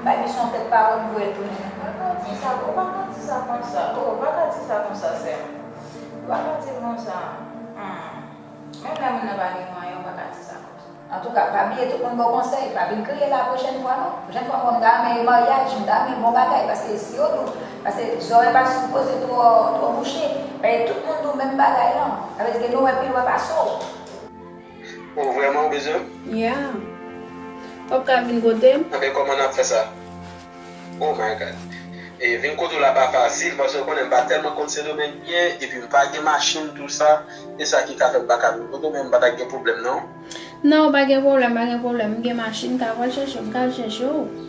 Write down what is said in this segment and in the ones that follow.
M pa gen son tèt pawòl m voye tounen. Ou pa ka di sa, ou pa ka di sa konsa, oh, ou pa ka di sa konsa sè m. Ou pa ka di l konsa, humm. Menm lè moun nan pa gen mwayen, ou pa ka di sa konsa. Antouka, pa bliye tout moun ba w konsèy, pa vin kriye la pwochèn fwa non. Pwochèn fwa m wè w m ta renmen yon maryaj, m ta renmen yon bon bagay paske si yo di w, paske zòrèy pa sipoze twò, twò bouche. Paske tout moun di w menm bagay lan. Sa vle di ke nou wè pi lwen pase w. Oh vreman ou bezwen m? Yeah. Wap ka vin kote m? Ok koman nap fè sa? Oh my God. E vin kote w la pa fasil paske ou konnen m pa telman konn Sendomeng byen epi m pa gen machin tout sa e sa ki ka fè m pa ka vin kote w men m pa ta gen pwoblèm non. Non pa gen pwoblèm pa gen pwoblèm m gen machin m ka pral chèche w m ka al chèche w.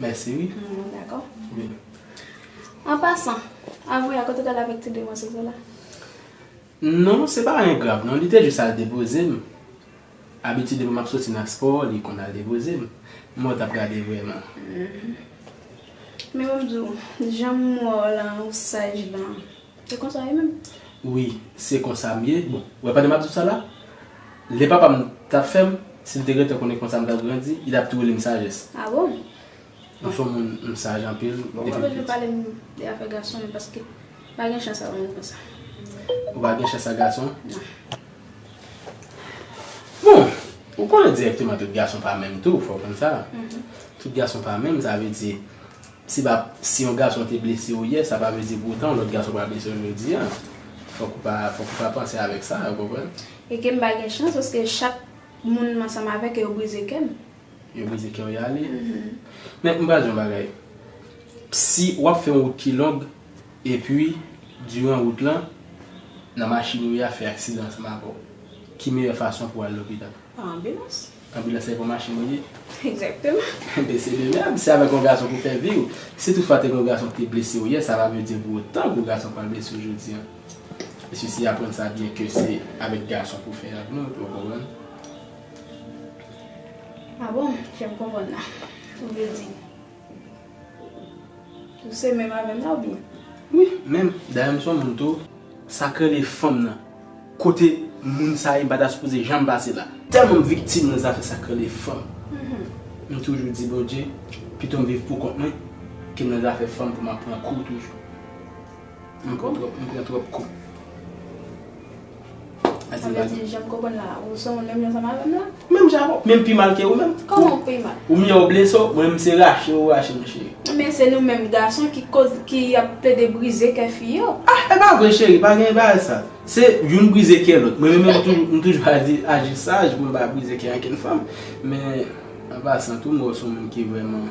Mèsi wi. Dakò. An pasan, avwe a kote ou t al avèk ti demwazèl sa la? Non, se pa anyen grav non, li te jis al depoze m. Abitidman m ap soti nan spò, li konn al depoze m. Mwen t ap gade vrèman. Men mwen m di w, jan m wè w lan, ou saj lan. Se konsa ye menm? Wi, se konsa m ye. Bon, ou wè pandan m ap di w sa la, lè papa m t ap fè m, si l te gentan konnen konsa m t ap grandi, li t ap tou rele m Sajès. A bon? M son moun, m saj anpil depi m piti. Bon, m pa bezwen pale m de afè gason men paske m pa gen chans a moun konsa. Ou pa gen chans a gason? Non. Bon, ou konnen dirèkteman tout gason pa menm tou, fò w konn sa. Tout gason pa menm, sa vle di, Se pa si yon gason te blese ou yè, sa pa vle di pou otan yon lòt gason pa blese ou jodi a. Fòk ou pa, fòk ou pa panse avèk sa, ou konprann? E ke m pa gen chans paske chak moun m ansanm avèk yo, yo brize kè m. Yo brize kè w y ale? Men, m pral di yon bagay. Si w ap fè yon wout ki long, epi, diran wout lan, nan machin ou ye a fè aksidan ansanm avè w, ki meyè fason pou w al lopital? Pa anbilans. Anbilans se yon machin li ye. Exactement. Ben se de même, se avèk yon gason pou fè vi ou. Si tout fwa te gen yon gason ki te blese ou yè, sa pa vle di pou otan gwo gason pral blese ou jodi an. Mesye si aprann sa byen ke se avèk gason pou fè ak nou, epi ou konprann. Ah bon, fèm konprann nan. Ou vle di. Ou se menm avèm la ou byen? Wi menm, dayè m son moun tou. Sak rele fanm nan? Kote moun sa ye m pa ta sipoze janm pase la. Tèlman m viktim nan zafè sak rele fanm. M toujou di Bondye pito m viv poukont mwen ke m nan zafè fanm pou m ap pran kou toujou. M pran twòp, m pran twòp kou. Sa vle di jan m konprann la, ou se moun menm jan sa madam la? Menm jan avè w, menm pi mal ke ou menm. Kòman m pi mal? Ou miyò ou blese w, mwen m se rache ou rache m cheri. Men se nou menm gason ki koz ki ap plede brize kè fi yo. Ah e pa vre cheri, pa gen bagay sa. Se youn brize kè lòt. Mwen menm m toujou ap di aji saj pou m pa brize kè ankenn fanm. Men an pasan tou m wè w se yon moun ki vrèman.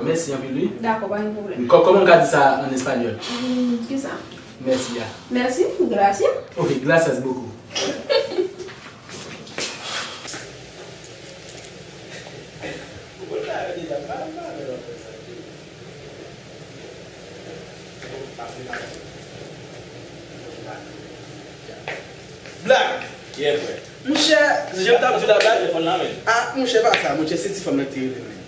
Mèsi anpil wi. Dakò pa gen pwoblèm. Kòman m ka di sa an espanyòl? Kisa? Mèsi a. Mèsi? Gracias? Ok, gracias beaucoup.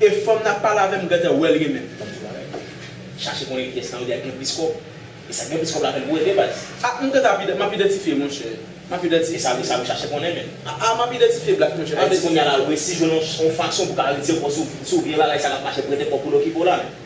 E fanm nap pale avèm gentan wèl gen menm fanm sou bagay chache konnen kiyès nan yo 2 a ki gen plis kòb e sak gen plis kòb la fèl boure de baz. Ah m gentan ap map idantifye monchè map idantifye. Esa esa yo chache konnen menn. Ah map idantifye black monchè map idantifye. Ayiti kounya la resi jwenn yon fason pou ka retire kòw si w vye bagay sa lap mache prete kòw poul okipe w la menn.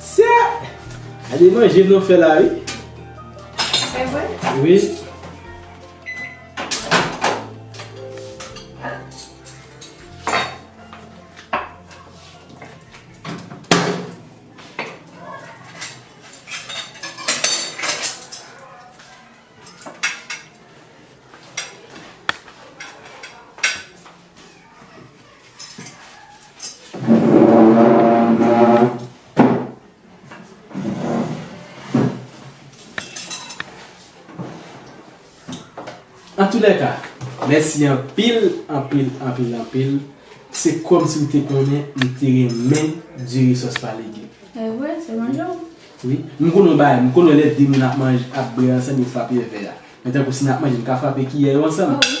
Sè! Gade manje nou fè la wi. Se vre? Wi. Antoulèka, mèsi anpil, anpil, anpil, anpil. Se kòm si ou te konnen ou te renmen diri sòs pa legim. Evre, se manje ou. Wi. M konnen yon bagay, m konnen lè de moun ap manje, ap bre ansanm yo frape vè a. Men tankou si n ap manje, n ka frape kiyè yo ansanm? O wi.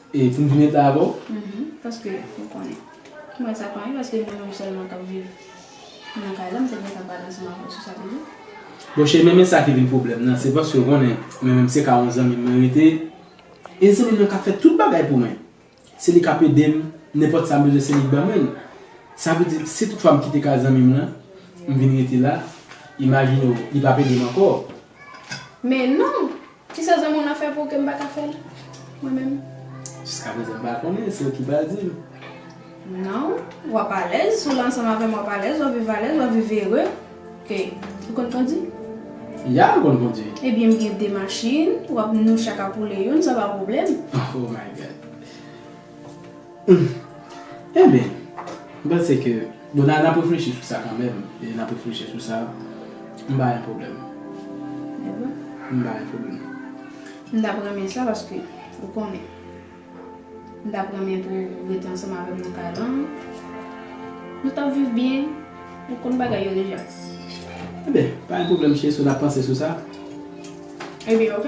E poum vin ret la avèw? Uhmm paske ou konnen. M wè sa konyen paske mwen menm sèlman kap viv nan kay la m te gentan pale ansanm avèw sou sa toujou. Bon cheri men men sa ki vin pwoblèm nan se paske ou konnen mwen menm se ka yon zanmim mwen rete e zanmim nan kap fè tout bagay pou mwen se li kap edem nenpòt sam bezwen se li k ban mwen l sa vle di si tout fwa m kite kay zanmim nan m vin rete la imajine w li pap edem ankò Men non! Kisa zanmi'w nan fè pou ou ke m'pa ka fè'l? Mwen menm? Jiska prezan m'pa konnen, se ou ki pral di'm. Non, w'ap alèz, si w' la ansanm avè'm w'ap alèz, w'ap viv alèz, w'ap viv ere. Ok. Ou konn kondi? Ya, m'konn kondi. Ebyen m'gen 2 machin, w'ap nou chak ap woule youn, sa pa pwoblèm. Oh my God! Humm enben m panse ke bon n ap reflechi sou sa kanmenm e n ap reflechi sou sa m pa gen pwoblèm m pa gen pwoblèm. M tap renmen sa paske ou konnen m tap renmen pou ou rete ansanm avè m nan kay lan nou tap viv byen ou konn bagay yo deja. Enben pa gen pwoblèm cheri si w tap panse sou sa. Ebyen ok.